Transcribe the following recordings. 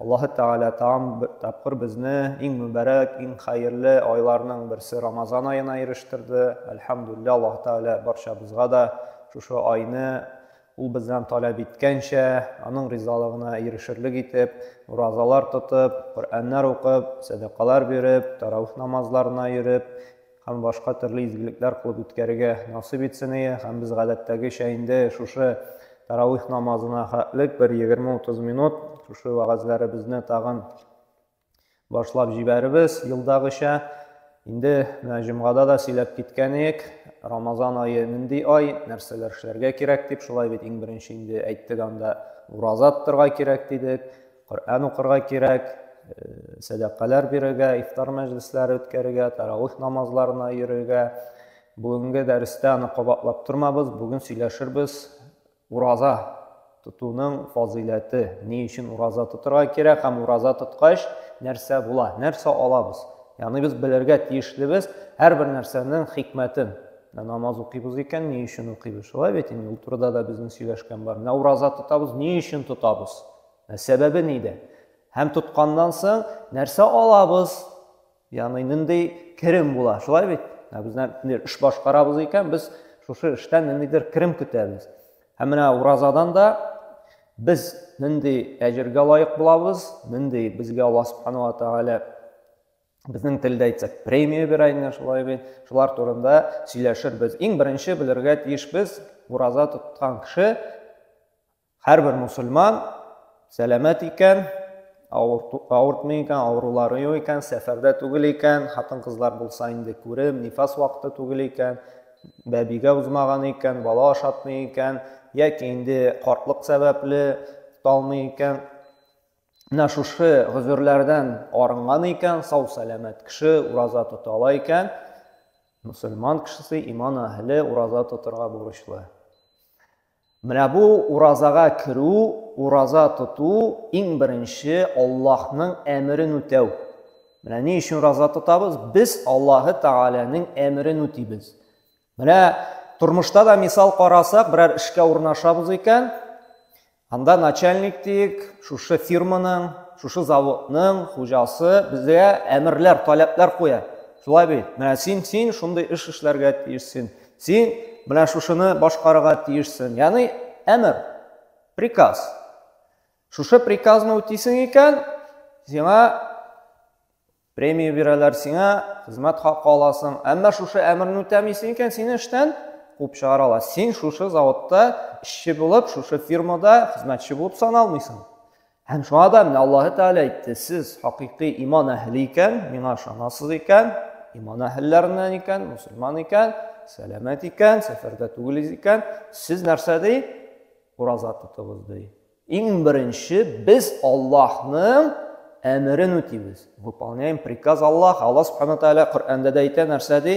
Аллаһы Тәгалә тагын бер тапкыр безне иң мөбарәк, иң хәерле айларның берсе Рамазан аена ирештерде. Әлхәмдүлилләһ, Аллаһы Тәгалә барчабызга да шушы айны Ул бездән таләп иткәнчә, Аның ризалыгына ирешерлек итеп, уразалар тотып, Коръәннәр укып, сәдакалар биреп, тарауих намазларына йөреп, һәм башка төрле изгелекләр кылып үткәрергә насыйп итсение һәм без гадәттәгечә инде шушы тарауих намазына хәтлек бер егерме-утыз минут шушы вәгазьләребезне тагын башлап җибәребез елдагыча инде менә җомгада да сөйләп киткән идек рамазан ае нинди ай нәрсәләр эшләргә кирәк дип шулай бит иң беренче инде әйттек анда ураза тотарга кирәк дидек Коръән укырга кирәк, сәдакалар бирергә, ифтар мәҗлесләре үткәрергә, тарауих намазларына йөрергә. Бүгенге дәрестә аны кабатлап тормабыз, бүген сөйләшербез ураза тотуның фазыйләте, ни өчен ураза тотырга кирәк һәм ураза тоткач нәрсә була, нәрсә алабыз. Ягъни без белергә тиешлебез һәрбер нәрсәнең хикмәтен. Менә намаз укыйбыз икән, ни өчен укыйбыз? Шулай бит инде, ул турыда да безнең сөйләшкән бар. Менә ураза тотабыз, ни өчен тотабыз? Ә сәбәбе нидә? Һәм тотканнан соң нәрсә алабыз? Ягъни нинди керем була, шулай бит? Ә без нәтиҗәдә эш башкарабыз икән, без шушы эштән ниндидер керем көтәбез. Һәм менә уразадан да без нинди әҗергә лаек булабыз, нинди безгә Алла Субхану ва Тааля безнең телдә әйтсәк, премия бирә инде шулай бит. Шулар турында сөйләшербез. Иң беренче белергә тиеш без, ураза тоткан кеше Һәрбер мусульман сәламәт икән, авыртмый икән, авырулары юк икән, сәфәрдә түгел икән, хатын-кызлар булса инде күреп, нифас вакыты түгел икән, бәбигә узмаган икән, бала ашатмый икән, яки инде картлык сәбәпле талмый икән. Менә шушы гозерләрдән арынган икән, сау сәламәт кеше ураза тота ала икән, мусульман кешесе иман әһеле ураза тотырга бурычлы. Менә бу уразага керү, ураза тоту, иң беренче Аллаһның әмерен үтәү. Менә ни өчен ураза тотабыз? Без Аллаһы Тәгаләнең әмерен үтибез. Менә тормышта да мисал карасак, берәр эшкә урнашабыз икән, анда начальник диек, шушы фирманың, шушы заводның хуҗасы безгә әмерләр, таләпләр куя. Шулай бит. Менә син, син шундый эш эшләргә тиешсең. Син менә шушыны башкарырга тиешсең. Яни әмер, приказ. Шушы приказны үтисең икән, сиңа премия бирәләр, сиңа хезмәт хакы аласың. Әмма шушы әмерне үтәмисең икән, сине эштән куып чыгаралар. Син шушы заводта эшче булып, шушы фирмада хезмәтче булып саналмыйсың. Һәм шуңа да менә Аллаһы Тәгалә әйтте, сез хакыйкый иман әһле икән, миңа ышанасыз икән, иман әһелләреннән икән, мусульман икән, сәламәт икән, сәфәрдә түгел икән, сез нәрсә ди? Ураза тотыгыз ди. Иң беренче без Аллаһның әмерен үтибез. Выполняем приказ Аллаһ. Аллаһ Субхану Тәгалә Коръәндә дә әйтә нәрсә ди?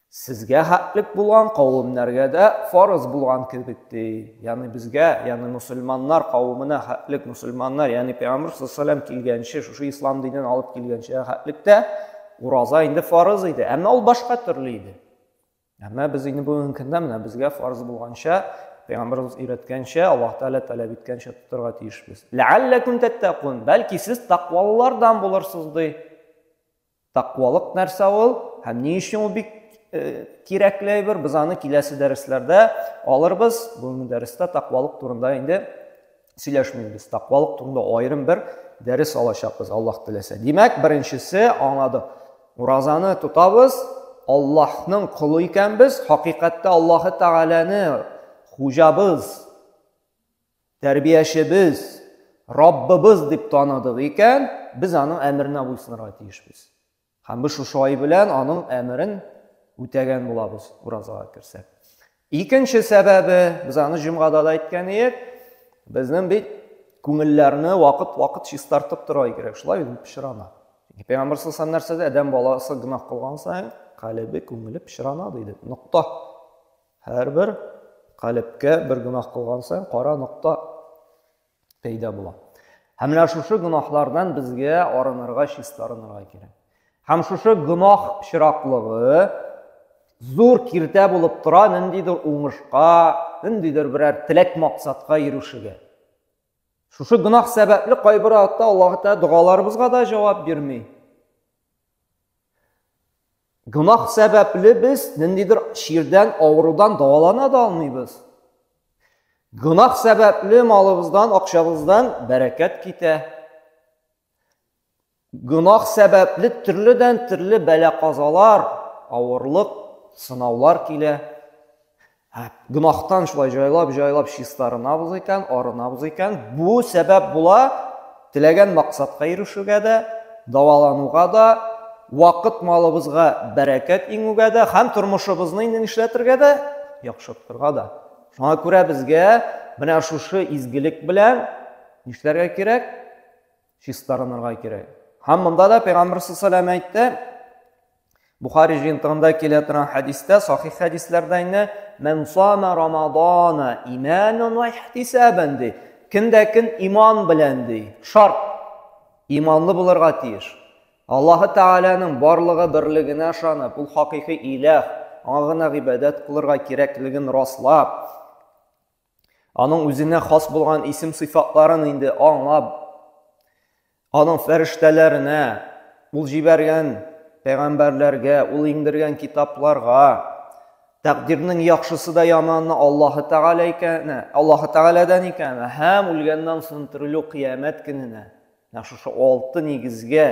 Сезгә хәтлек булган кавемнәргә дә фарыз булган кебек ди. Ягъни безгә, ягъни мусульманнар кавемына хәтлек мусульманнар, ягъни Пәйгамбәр саллаллаху килгәнче, шушы ислам динен алып килгәнче хәтлектә ураза инде фарыз иде, әмма ул башка төрле иде. Әмма без инде бүгенге көндә менә безгә фарыз булганча, Пәйгамбәрбез өйрәткәнчә, Аллаһ Тәгалә таләп иткәнчә тотарга тиешбез. Ләалләкум тәттәкун, бәлки сез тәкъвалылардан булырсыз ди. Тәкъвалык нәрсә ул һәм ни өчен ул бик кирәкле әйбер? Без аны киләсе дәресләрдә алырбыз. Бүгенге дәрестә тәкъвалык турында инде сөйләшмибез. Тәкъвалык турында аерым бер дәрес алачакбыз, Аллаһ теләсә. Димәк, беренчесе аңлады. Уразаны тотабыз, Аллаһның кулы икәнбез, хакыйкатьтә Аллаһы Тәгаләне хуҗабыз Тәрбиячебез Раббыбыз дип таныдык икән, без аның әмеренә буйсынырга тиешбез. Һәм без шушы ай белән аның әмерен үтәгән булабыз уразага керсәк. Икенче сәбәбе, без аны җомгада да әйткән идек, безнең бит күңелләрне вакыт-вакыт чистартып тора кирәк, шулай бит пешрана. Пәйгамбер саллаллаху нәрсә дә, адәм баласы гынах кылган саен, калебе, күңеле пешрана диде. Нокта. Һәрбер калебкә бер гөнаһ кылган саен кара нокта пәйда була. Һәм менә шушы гөнаһлардан безгә арынырга, чиста арынырга кирәк. Һәм шушы гөнаһ чираклыгы зур киртә булып тора ниндидер уңышка, ниндидер берәр теләк максатка ирешүгә. Шушы гөнаһ сәбәпле кайбер атта Аллаһ Тәгалә догаларыбызга да җавап бирми. Гөнаһ сәбәпле без ниндидер чирдән, авырудан дәвалана да алмыйбыз. Гөнаһ сәбәпле малыбыздан, акчабыздан бәрәкәт китә. Гөнаһ сәбәпле төрледән төрле бәла-казалар, авырлык, сынаулар килә. Ә гөнаһтан шулай җайлап-җайлап чистарынабыз икән, арынабыз икән, бу сәбәп була теләгән максатка ирешүгә дә, давалануга да, вакыт малыбызга бәрәкәт иңүгә дә һәм тормышыбызны инде нишләтергә дә, яхшыртырга да. Шуңа күрә безгә менә шушы изгелек белән нишләргә кирәк? чистарынырга кирәк. Һәм монда да Пәйгамбәр саллаллаху алейһи әйтте, Бухари җыентыгында килә торган хәдистә, сахих хәдисләрдә инде, "Мен сама Рамадана иманан ва ихтисабан" ди. Кемдә кем иман белән ди. Шарт. Иманлы булырга тиеш. Аллаһы Тәгаләнең барлыгы берлегенә ышанып, ул хакыйкый иләх, аңа гына гыйбадәт кылырга кирәклеген раслап, Аның үзенә хас булган исем-сыйфатларын инде аңлап, аның фәрештәләренә, ул җибәргән пәйгамбәрләргә, ул иңдергән китапларга, тәкъдирнең яхшысы да яманы Аллаһы Тәгалә икәне, Аллаһы Тәгаләдән икәне һәм үлгәннән соң терелү кыямәт көненә. Менә шушы алты нигезгә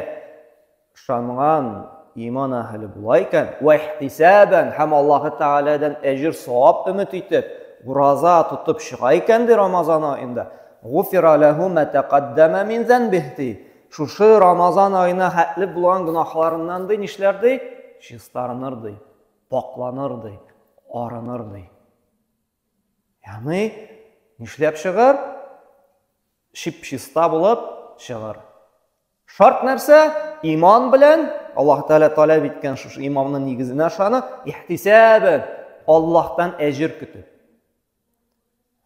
Ышанган иман әһеле була икән, вә ихтисабән һәм Аллаһы Тәгаләдән әҗер савап өмет итеп, ураза тотып чыга икән ди Рамазан аенда, гуфира ләһу мә тәкаддәмә мин зәнбих ди. Шушы Рамазан аена хәтле булган гөнаһларыннан ди нишләр ди? Чистарыныр ди, пакланыр ди, арыныр ди. Ягъни нишләп чыгар? Чип-чиста булып чыгар. Шарт нәрсә? Иман белән, Аллаһ Тәгалә таләп иткән шушы имамның нигезенә ышанып, ихтисабән Аллаһтан әҗер көтү.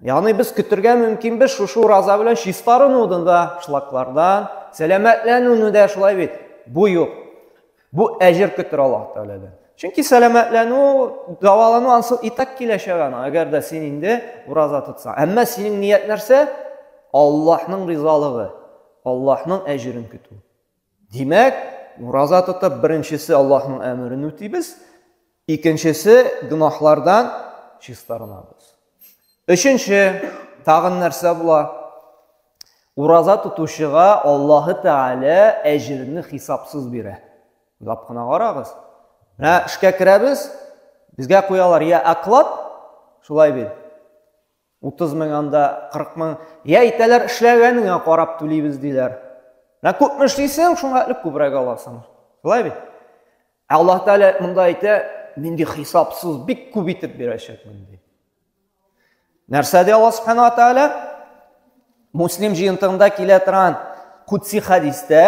Ягъни без көтергә мөмкин без шушы ураза белән чистарынудан да, шлаклардан, сәламәтләнүне дә шулай бит. Бу юк. Бу әҗер көтер Аллаһ Тәгаләдән. Чөнки сәламәтләнү, дәвалану ансы и так киләчәк ана, әгәр дә син инде ураза тотсаң. Әмма синең ният нәрсә? Аллаһның ризалыгы, Аллаһның әҗерен көтү. Димәк, ураза тотып, беренчесе Аллаһның әмерен үтибез, Икенчесе, гөнаһлардан чистарынабыз. Өченче, тагын нәрсә була? Ураза тотучыга Аллаһы Тәгалә әҗерне хисапсыз бирә. Уйлап кына карагыз. Менә эшкә керәбез, безгә куялар я оклад, шулай бит. Утыз мең анда, кырык мең. Я әйтәләр, эшләгәнеңә карап түлибез, диләр. Менә күпме эшлисең, шуңа элек күбрәк аласың. Шулай бит? Ә Аллаһ Тәгалә монда әйтә, мин ди хисапсыз бик күп итеп бирәчәкмен ди. Нәрсә ди Аллаһ Субхану ва Тәгалә? Муслим җыентыгында килә торган кутси хадистә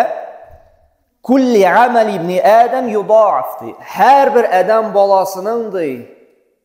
Күлли амәл ибни Адам юдаф ди. Һәрбер адәм баласының ди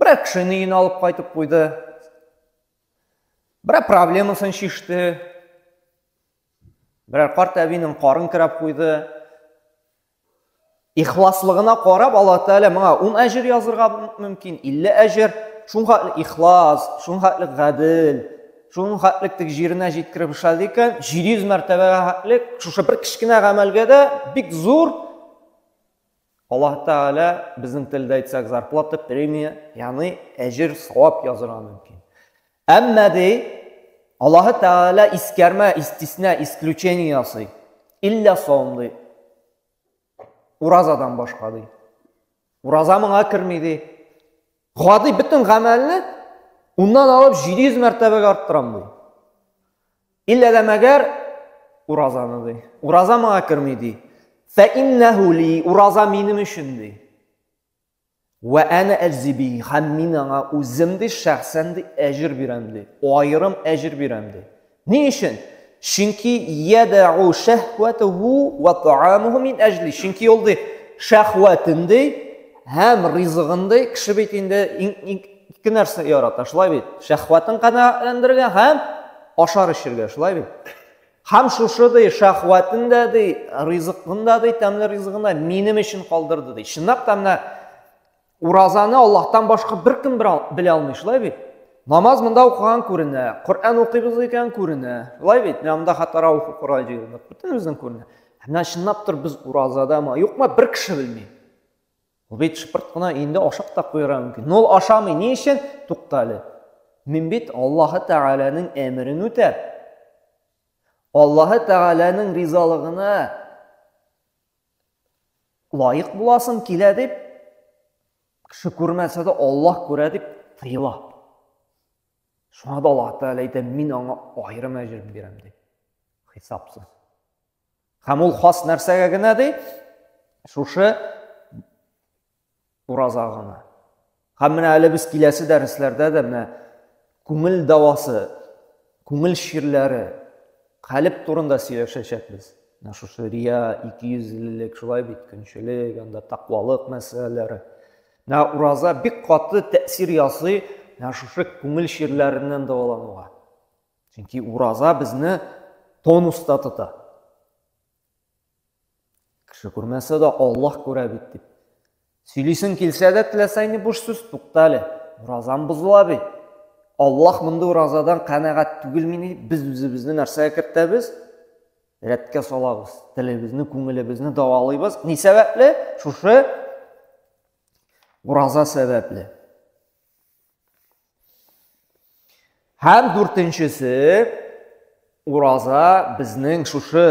Берәр кешене өенә алып кайтып куйды. Берәр проблемасын чиште. Берәр карт әбинең карын керәп куйды. Ихласлыгына карап Аллаһ Тәгалә моңа 10 әҗер язырга мөмкин, 50 әҗер. Шуңа ихлас, шуңа гадел, шуның хәтлек тек җиренә җиткереп эшләде икән, 700 мәртәбәгә хәтлек шушы бер кечкенә гамәлгә дә бик зур Аллаһ Тәгалә, безнең телдә әйтсәк, зарплата, премия, яны әҗер, савап язырга мөмкин. Әмма ди, Аллаһ Тәгалә искәрмә, истисна, исключение ясый. Илля савым ди. Уразадан башка ди. Ураза моңа керми ди. Гади бөтен гамәлне уннан алып 700 мәртәбәгә арттырам ди. Иллә дә мәгәр уразаны ди. Ураза моңа керми ди. Фә иннәһу ли ураза минем өчен ди. Вә әнә әҗзиби һәм мин аңа үзем ди шәхсән ди әҗер бирәм ди. Аерым әҗер бирәм ди. Ни өчен? Чөнки ядау шәһвәтүһу ва таамуһу мин әҗли. Чөнки ул ди шәһвәтен ди һәм ризыгын ди. Кеше бит инде ике нәрсә ярата, шулай бит. Шәһвәтен канәгатьләндерергә һәм ашар эчергә, шулай бит. Һәм шушы ди шәһвәтен дә ди, ризыгын да ди, тәмле ризыгын да минем өчен калдырды ди. Чынлап та менә Уразаны Аллаһтан башка беркем белә алмый, шулай бит? Намаз монда укыган күренә, Коръән укыйбыз икән күренә. Шулай бит? Менә монда хәтта Раух Корай җыелдык. Бөтенебезнең күренә. Менә чынлап тор без уразадамы, юкмы бер кеше белми. Ул бит шыпырт кына инде ашап та куярга мөмкин. Но ул ашамый. Ни өчен? Тукта әле. Мин бит Аллаһы Тәгаләнең әмерен үтәп, Аллаһы Тәгаләнең ризалыгына лаек буласым килә дип, кеше күрмәсә дә Аллаһ күрә дип тыела. Шуңа да Аллаһ Тәгалә әйтә, мин аңа аерым әҗер бирәм ди. Хисапсыз. Һәм ул хас нәрсәгә генә ди? Шушы Ураз агымы. Һәм менә әле без киләсе дәресләрдә дә менә күңел дәвасы, күңел чирләре, калеб турында сөйләшәчәкбез. Менә шушы рия, икейөзлелек, шулай бит, көнчелек, анда тәкъвалык мәсьәләләре. Менә ураза бик каты тәэсир ясый менә шушы күңел чирләреннән дәвалануга. Чөнки ураза безне тонуста тота. Кеше күрмәсә дә Аллаһ күрә бит дип. Сөйлисең килсә дә теләсә инде буш сүз тукта әле. Уразам бозыла бит. Аллаһ мондый уразадан канәгать түгел мени дип без үзебезне нәрсәгә кертәбез? Рәткә салабыз. Телебезне, күңелебезне давалыйбыз. Ни сәбәпле? Шушы ураза сәбәпле. Һәм дүртенчесе, ураза безнең шушы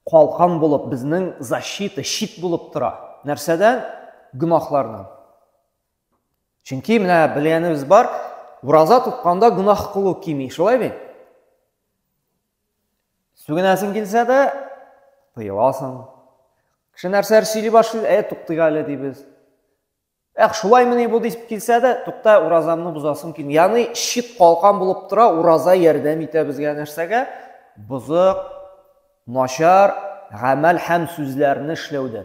калкан булып, безнең защита, щит булып тора. Нәрсәдән? Гөнаһлардан. Чөнки менә белгәнебез бар, ураза тотканда гөнаһ кылу кими, шулай бит? Сүгенәсең килсә дә, тыеласың. Кеше нәрсәләр сөйли башлый, ә туктыйк әле дибез. Эх, шулаймыни бу дип килсә дә, тукта, уразамны бозасым килми. Ягъни чит калкан булып тора, ураза ярдәм итә безгә нәрсәгә? Бозык, начар, гамәл һәм сүзләрне эшләүдә.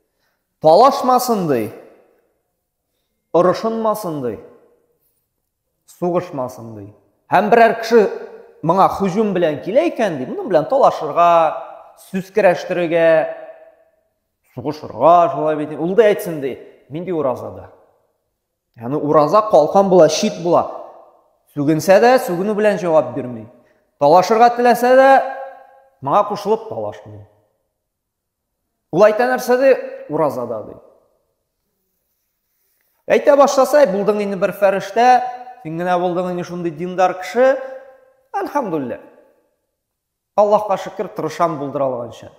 Талашмасын ди. Орышынмасын ди. Сугышмасын ди. Һәм берәр кеше моңа хужум белән килә икән ди, моның белән талашырга, сүз керәштерергә, сугышырга, шулай бит. Ул да әйтсен ди, мин ди уразада. Яны ураза калкан була, шит була. Сүгенсә дә, сүгенү белән җавап бирми. Талашырга теләсә дә, моңа кушылып талашмый. Ул әйтә нәрсә ди? Уразада ди. Әйтә башласа, булдың инде бер фәрештә, син генә булдың инде шундый диндар кеше. Әлхәмдулиллә. Аллаһка шөкер, тырышам булдыра алганча.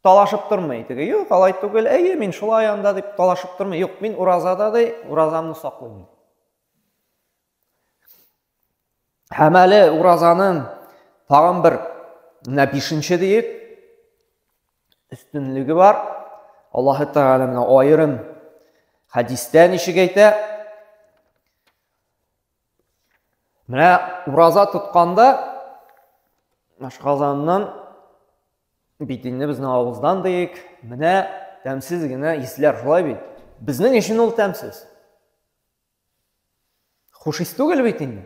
Талашып тормый теге. Юк, алай түгел. Әйе, мин шулай анда дип талашып тормый. Юк, мин уразада ди, уразамны саклыйм. Һәм әле уразаның тагын бер менә бишенче диек өстенлеге бар. Аллаһы Тәгалә менә аерым хәдистә ничек әйтә? Менә ураза тотканда ашказаннан бит инде безнең авыздан диек, менә тәмсез генә исләр шулай бит. Безнең өчен ул тәмсез. Хуш ис түгел бит инде.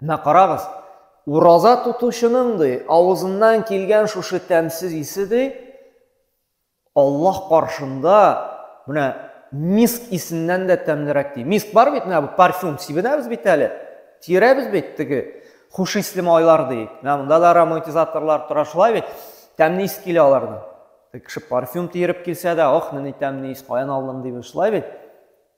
Менә карагыз, ураза тотучының ди, авызыннан килгән шушы тәмсез исе ди, Аллаһ каршында менә миск исеннән дә тәмлерәк ди. Миск бар бит, менә бу парфюм сибенәбез бит әле. Тирәбез бит теге хуш исле майлар ди. Менә монда да ароматизаторлар тора шулай бит. Тәмле ис килә алардан. Кеше парфюм тиереп килсә дә, ох, менә тәмле ис, каян алдым дип шулай бит.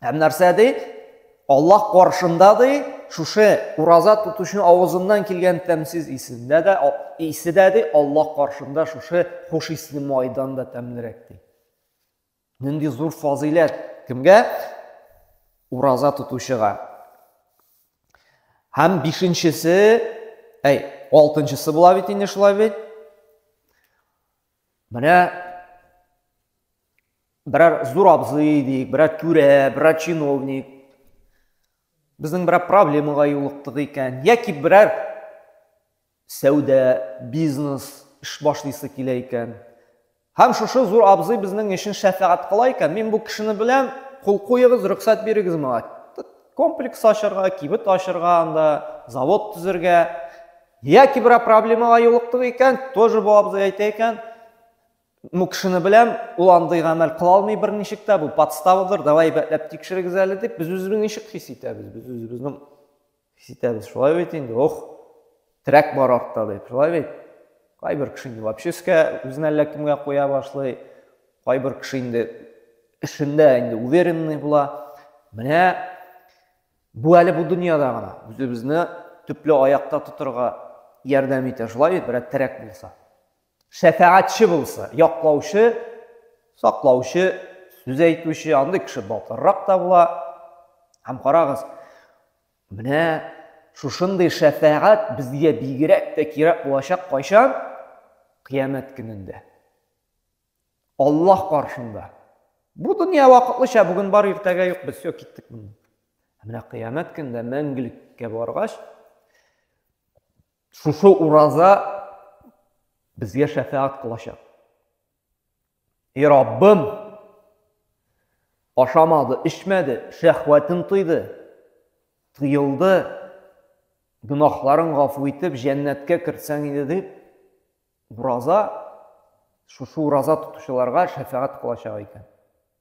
Һәм нәрсә ди? Аллаһ каршында ди, шушы ураза тотучының авызыннан килгән тәмсез исендә дә исе дә ди, Аллаһ каршында шушы хуш исле майдан да тәмлерәк ди. Нинди зур фазыйләт кемгә? Ураза тотучыга. Һәм бишенчесе, әй, алтынчысы була бит инде шулай бит. Менә Берәр зур абзый дик, берәр түрә, берәр чиновник. Безнең берәр проблемага юлыктык икән, яки берәр сәүдә, бизнес эш башлыйсы килә икән. Һәм шушы зур абзый безнең өчен шәфәгать кыла икән. Мин бу кешене беләм, кул куегыз, рөхсәт бирегез моңа. Комплекс ачырга, кибет ачырга анда, завод төзергә. Яки берәр проблемага юлыктык икән, тоже бу абзый әйтә икән. Бу кешене беләм, ул андый гамәл кыла алмый берничек тә, бу подставадыр, давай әйбәтләп тикшерегез әле дип, без үзебез ничек хис итәбез? Без үзебезнең хис итәбез, шулай бит инде, ох, терәк бар артта дип, шулай бит? Кайбер кеше инде вообще өскә үзен әллә кемгә куя башлый, кайбер кеше инде эшендә инде уверенный була. Менә бу әле бу дөньяда гына үзебезне төпле аякта тотырга ярдәм итә, шулай бит, берәр терәк булса. Шәфәгатьче булса, яклаучы, саклаучы, сүз әйтүче, андый кеше батыррак та була. Һәм карагыз, менә шушындый шәфәгать безгә бигрәк тә кирәк булачак кайчан? Кыямәт көнендә. Аллаһ каршында. Бу дөнья вакытлыча, бүген бар, иртәгә юк, без все киттек моннан. Ә менә кыямәт көндә мәңгелеккә баргач, Шушы ураза безгә шәфәгать кылачак. И Раббым, ашамады, эчмәде, шәхвәтен тыйды, тыелды, гөнаһларын гафу итеп, җәннәткә кертсәң иде дип, ураза, шушы ураза тотучыларга шәфәгать кылачак икән.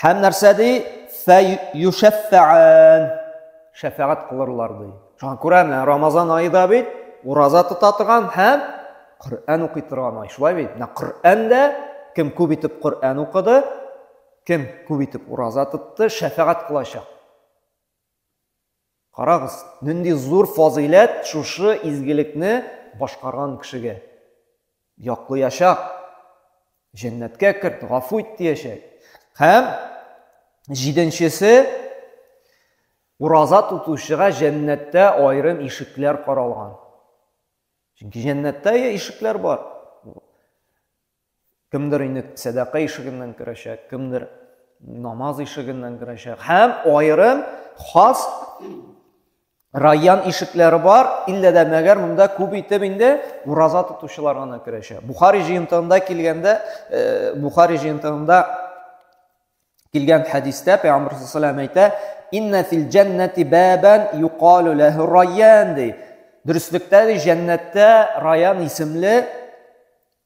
Һәм нәрсә ди? Фә юшәффәән. Шәфәгать кылырлар ди. Шуңа күрә менә Рамазан айы да бит ураза тота торган һәм Коръән укый торган ай. Шулай бит? Менә Коръән дә кем күп итеп Коръән укыды, кем күп итеп ураза тотты, шәфәгать кылачак. Карагыз, нинди зур фазыйләт шушы изгелекне башкарган кешегә! Яклыячак, җәннәткә керт, гафу ит диячәк. Һәм җиденчесе, ураза тотучыга җәннәттә аерым ишекләр каралган. Чөнки җәннәттә ишекләр бар. Кемдер инде сәдака ишегеннән керәчәк, кемдер намаз ишегеннән керәчәк. Һәм аерым хас район ишекләре бар, иллә дә мәгәр монда күп итеп инде ураза тотучылар гына керәчәк. Бухари җыентыгында килгәндә, э, Бухари җыентыгында килгән хәдистә Пәйгамбәр саллаллаху алейһи әйтә, "Инна фил җәннәти бабан юкалу ләһу райян" ди. Дөреслектә ди, җәннәттә райян исемле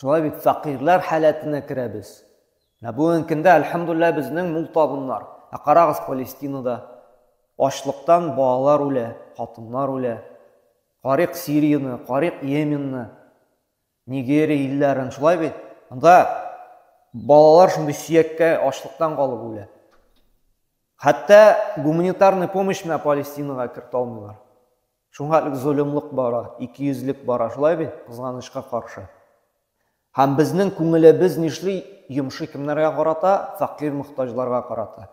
Шулай бит, фәкыйрьләр халәтенә керәбез. Ә бүген көндә, әлхәмдулләһ, безнең мул табыннар. Ә карагыз Палестинада. Ачлыктан балалар үлә, хатыннар үлә. Карыйк Сирияне, карыйк Йеменны, Нигерия илләрен, шулай бит? Анда балалар шундый сөяккә ачлыктан калып үлә. Хәтта гуманитарный помощь менә Палестинага кертә алмыйлар. Шуңа элек золымлык бара, икейөзлек бара, шулай бит, кызганычка каршы. Һәм безнең күңелебез нишли, йомшый кемнәргә карата, фәкыйрь-мохтаҗларга карата.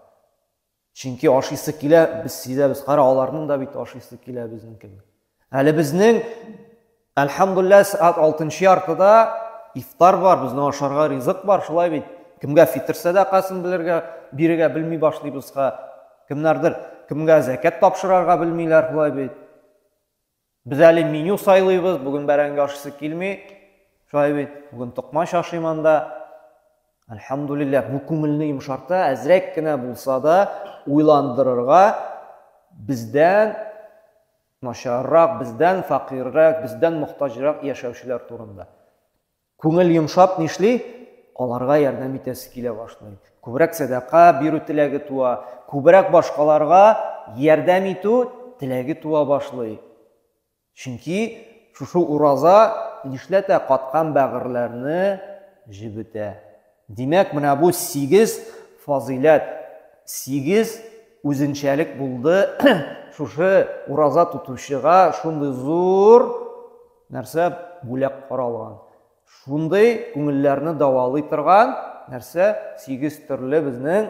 Чөнки ашыйсы килә, без сизәбез, кара, аларның да бит ашыйсы килә безнең кебек. Әле безнең Әлхәмдулләһ, сәгать алтынчы яртыда ифтар бар, безнең ашарга ризык бар, шулай бит. Кемгә фитр сәдакасын белергә, бирергә белми башлыйбыз ха. Кемнәрдер кемгә зәкәт тапшырарга белмиләр, шулай бит. Без әле меню сайлыйбыз, бүген бәрәңге ашыйсы килми. Шулай бит, бүген токмач ашыйм анда. Әлхәмдулилләһ, бу күңелне йомшарта, әзрәк кенә булса да уйландырырга бездән начаррак, бездән фәкыйрьрәк, бездән мохтаҗрак яшәүчеләр турында. Күңел йомшап нишли? Аларга ярдәм итәсе килә башлый. Күбрәк сәдака бирү теләге туа, күбрәк башкаларга ярдәм итү теләге туа башлый. Чөнки шушы ураза нишләтә каткан бәгырьләрне җебетә. Димәк, менә бу сигез фазыйләт, сигез үзенчәлек булды шушы ураза тотучыга шундый зур нәрсә бүләк каралган. Шундый күңелләрне давалый торган нәрсә сигез төрле безнең